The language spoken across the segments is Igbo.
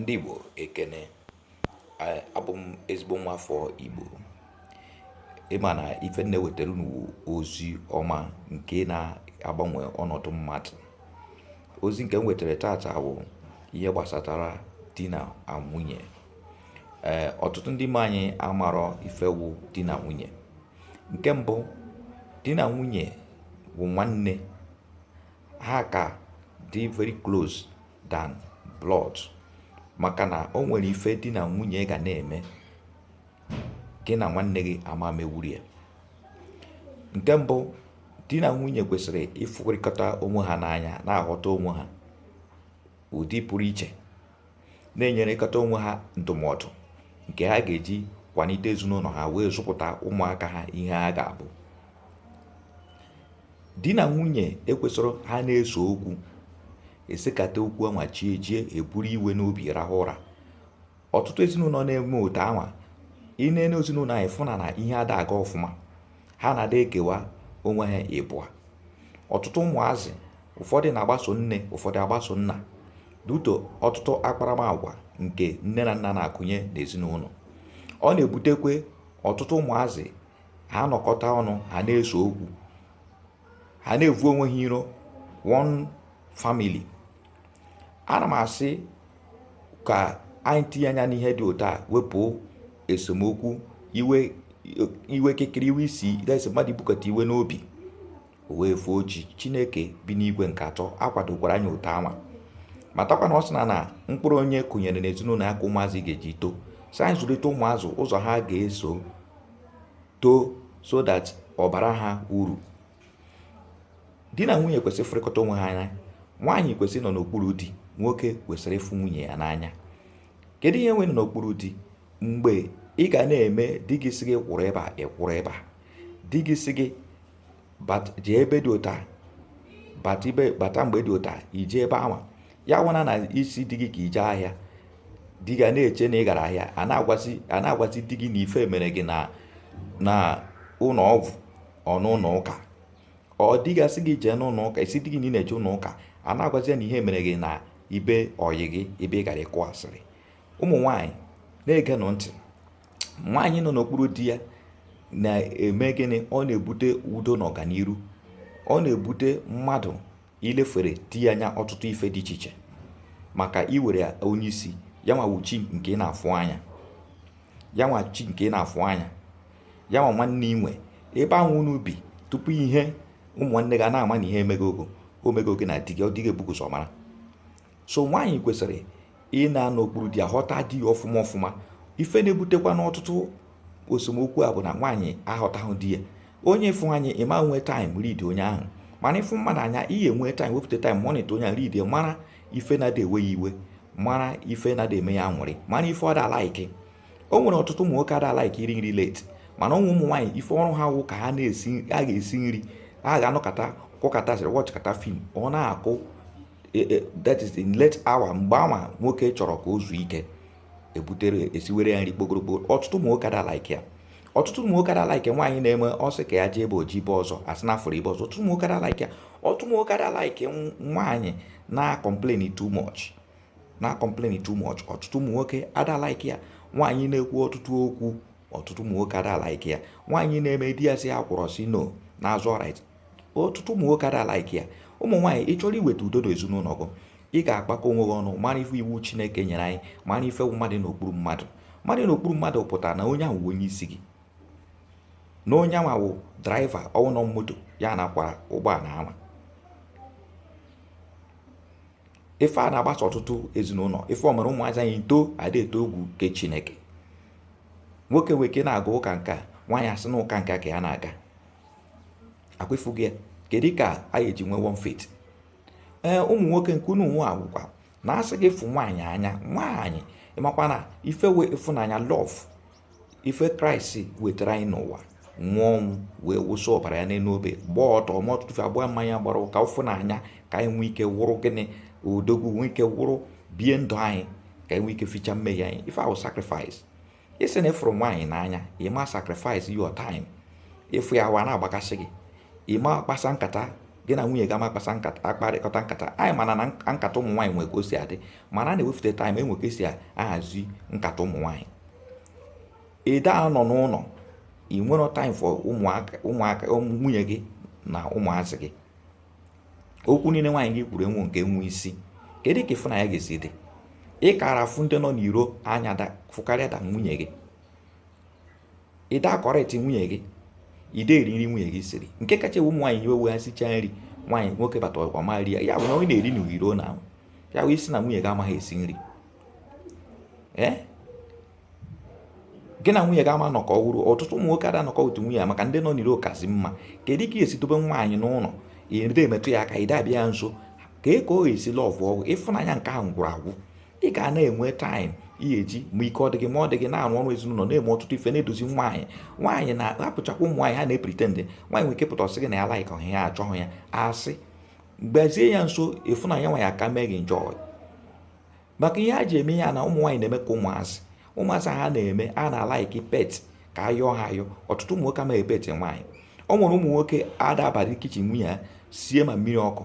ndị Igbo ekene abụ m ezigbo nwa afọ Igbo ị ma na ife m na-ewetara unu wụ ozi ọma nke na-agbanwe ọnọdụ mmadụ ozi nke m wetara tata wụ ihe gbasatara di na nwunye ee ọtụtụ ndị be anyị amarọ ife wụ di na nwunye nke mbụ di na nwunye wụ nwanne ha ka dị very close than blood maka na o nwere ife di na nwunye ga na-eme gị na nwanne gị ama mewuru ya nke mbụ di na nwunye kwesịrị ịfụrịkọta onwe ha n'anya na-aghọta onwe ha ụdị pụrụ iche na-enyerekọta onwe ha ndụmọdụ nke ha ga-eji kwalite ezinụlọ ha wee zụpụta ụmụaka ha ihe ha ga-abụ di na nwunye ekwesịrọ ha na-ese okwu esekata okwu anwa chi ejie eburu iwe n'obi rahụ ụra ọtụtụ ezinụlọ na-eme otu anwa ị nene ezinụlọ anya ị fụ na na ihe ada aga ọfụma ha na-ada ekewa onwe ha ịbụa ọtụtụ ụmụazị ụfọdụ na-agbaso nne ụfọdụ agbaso nna due to ọtụtụ akparamagwa nke nne na nna na-akụnye n'ezinụlọ ọ na-ebutekwe ọtụtụ ụmụazị ha nọkọta ọnụ ha na-ese okwu ha na-evu onwe ha iro one family ana m asị ka anyị tinye anya n'ihe dị otu a wepụ esemokwu iwe iwe kekere iwe isi desi mmadụ ibukọta iwe n'obi o wee foo chi chineke bi n'igwe nke atọ akwadokwarọ anyị otu anwa matakwa na ọ sị na na mkpụrụ onye kụnyere n'ezinụlọ ya ka ụmụazị ga-eji too sị anyị zụlite ụmụazị ụzọ ha ga-eso too so that ọ bara ha uru di na nwunye kwesịrị ịfụrịkọta onwe ha anya nwaanyị kwesịrị ịnọ n'okpuru di nwoke kwesịrị ịfụ nwunye ya n'anya kedu ihe wụ ịnọ n'okpuru di mgbe ị ga na-eme di gị sị gị kwụrụ ebe a ị kwụrụ ebe a di gị sị gị jee ebe dị otu a bata mgbe dị otu a i jee ebe anwa ya awụna na ị sị di gị ka i je ahịa di gị na-eche na ị gara ahịa a na-agwazi di gị na ife mere gị na ụlọ ọgwụ or n'ụlọ ụka ọ di gị sị gị jee n'ụlọ ụka ị sị di gị na ị na-eje ụlọ ụka a na-agwazi ya na ihe mere gị na be ọyị gị ebe ị gara ịkụ asịrị ụmụ nwaanyị na-egenụ ntị nwaanyị nọ n'okpuru di ya na-eme gịnị ọ na-ebute udo na ọganiru ọ na-ebute mmadụ ilefere di ya anya ọtụtụ ife dị iche iche maka i were onye isi ya nwa wụ chi nke ị na-afụ anya ya nwa chi nke ị na-afụ anya ya nwa nwanne i nwe ebe ahụ unu bi tupu ihe ụmụnne gị ana-ama na ihe emego gị o mego gị na di gị ọ di gị ebugo ụzọ mara so nwaanyị kwesịrị ị na-anọ n'okpuru di ya ghọta di ya ọfụma ọfụma ife na-ebutekwa n'ọtụtụ esemokwu a bụ na nwaanyị aghọtaghị di ya onye ị fụ anya ị ma nwe time read onye ahụ mana ị fụ mmadụ anya ị ya-enwe time wepụta time monitor onye read mara ife na-ada ewe ya iwe mara ife na-ada eme ya aṅụrị mara ife ọ da like o nwere ọtụtụ ụmụ nwoke ada like iri nri late mana ụmụ ụmụ nwaanyị ife ọrụ ha wụ ka ha na-esi a ga-esi nri a ga-anọkọta kọkọta asịrị watchịkọta film ọ na-akụ e, e, that is in late hour mgbe anwa nwoke chọrọ ka o zuo ike ebutere esiwere ya nri kpogoro kpogoro ọtụtụ ụmụ nwoke ada like ya ọtụtụ ụmụ nwoke ada like nwaanyị na-eme ọ sị ka ya jee ebe o jee ebe ọzọ a sị na a fụrụ ya ebe ọzọ ọtụtụ ụmụ nwoke ada like ya ọtụtụ ụmụ nwoke ada like nwaanyị na complain too much na complain too much ọtụtụ ụmụ nwoke ada like ya nwaanyị na-ekwu ọtụtụ okwu ọtụtụ ụmụ nwoke ada like ya nwaanyị na-eme di ya sị ya kwụrụ ọ sị no na-azọ right ọtụtụ ụmụ nwoke ada like ya ụmụ nwaanyị ị chọrọ iweta udo n'ezinụlọ gị ị ga-akpakọ onwe gị ọnụ mara ife iwu chineke nyere anyị mara ife mmadụ n'okpuru mmadụ mmadụ n'okpuru mmadụ pụtara na onye ahụ onye isi gị na onye ahụ wụ driver ọ wụ nọ moto ya na-akwara ụgbọala ahụ ife a na-agbasa ọtụtụ ezinụlọ ife o mere ụmụazị anyị too ada atụ egwu nke chineke nwoke weke na-aga ụka nke a nwaanyị asị na ụka nke a ka ya na-aga ọ kwa ị fụgo ya kedu ka a ga-eji nwee one faith ee ụmụ nwoke nke unu nwa wụkwa na asị gị fụ nwaanyị anya nwaanyị ị makwa na ife wụ ịfụnanya love ife kraịst wetara anyị n'ụwa nwụọ ọnwụ wee wụsị ọbara ya n'elu obe gbaa ọtọ ma ọtụtụ ife agba mmanya gbara ụka ịfụnanya ka anyị nwee ike wụrụ gịnị odogwu nwee ike wụrụ bie ndụ anyị ka anyị nwee ike ficha mmehie anyị ife a wụ sacrifice ị sị na ị fụrụ nwaanyị n'anya ị ma sacrifice your time ị fụ ya ahụ a na-agbakasị gị ị ma akpasa nkata gị na nwunye gị ama akpasa nkata akparịkọta nkata anyị mana na nkata ụmụ nwaanyị nwere ka o si adị mana a na-ewefute time enwe ka esi ahazi nkata ụmụ nwaanyị ị da anọ n'ụlọ ị nwere time for ụmụaka ụmụaka nwunye gị na ụmụazị gị okwu niile nwaanyị gị kwuru enwe nke nwe isi kedu ka ịfụnanya ga-esi dị ị kara afụ ndị nọ n'iro anya fụkarịa da nwunye gị ị da akọrịtị nwunye gị i de eri nri nwunye gị siri nke kacha ewe ụmụ nwaanyị iwe wụ ha sicha nri nwaanyị nwoke bata ọ ma ri ya ya bụ na onye na-eri n'iro na ya wee ị sị na nwunye gị amaghị esi nri ee eh? gị na nwunye gị ama nọkọ ọhụrụ ọtụtụ ụmụ nwoke ada nọkọ otu nwunye ya maka ndị nọ n'iro kazi mma kedu ka esi dobe nwaanyị n'ụlọ ide emetụ ya aka ide abịa ya nso ka e ka ọ ga-esi lọvụ ọ gwụ ịfụnanya nke ahụ gwụrụ agwụ ị ga na-enwe taịm ihe eji ma ike ọ dị gị ma ọ dị gị na-arụ ọrụ ezinụlọ na-eme ọtụtụ ife na-edozi nwaanyị nwaanyị na-apụchakwa ụmụ nwaanyị ha na-epritendị nwaanyị nwere ike pụta ọ sị gị na ya laik ọhịa ya achọghị ya asị gbazie ya nso ịfụnanya nwaanyị aka mee gị njọ maka ihe a ji eme ya na ụmụ nwaanyị na-eme ka ụmụazị ụmụazị ha na-eme ha na-alaiki pet ka a yọọ ha ayọ ọtụtụ ụmụ nwoke amaghị pet nwaanyị ọ nwere ụmụ nwoke ada abara kichin nwunye ya sie ma mmiri ọkụ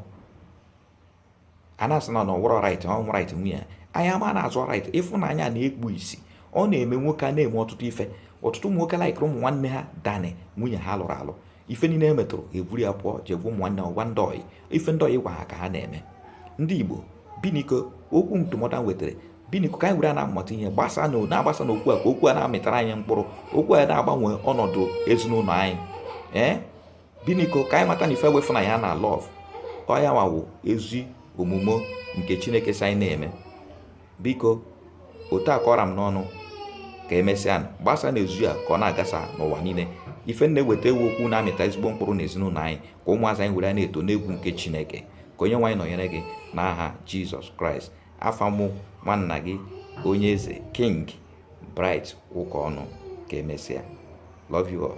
a na-asị na ọ wụrọ raịt ọ wụ raịt nwunye ya anyị ama na-azọ raịt ịfụnanya na-ekpu isi ọ na-eme nwoke a na-eme ọtụtụ ife ọtụtụ ụmụ nwoke laikiri ụmụ nwanne ha than nwunye ha lụrụ alụ ife niile e metụrụ e buru ya pụọ jee gwa ụmụnne ọ gwa ndị ọyị ife ndị ọyị gwa ha ka ha na-eme ndị igbo biniko okwu ndụmọdụ a wetara biniko ka anyị were na-amụta ihe gbasa na na-agbasa na okwu a ka okwu a na-amịtara anyị mkpụrụ okwu a na-agbanwe ọnọdụ ezinụlọ anyị ee biniko ka anyị mata na ife wụ ịfụnanya na lọv ọ ya nwa wụ ezi omume nke chineke sị anyị na-eme Biko, otu a ka ọ ra m n'ọnụ ka emesịa nụ, gbasa n'ezu ya ka ọ na-agasa n'ụwa niile. Ife m na-eweta wụ okwu na-amịta ezigbo mkpụrụ n'ezinụlọ anyị ka ụmụazị anyị were ya na-eto n'egwu nke Chineke. Ka Onyenwe anyị nọnyere gị n'aha Jizọs Kraịst. Afa mụ nwanna gị onye eze King Bright Ụkọnụ. Ka emesịa. Love you all.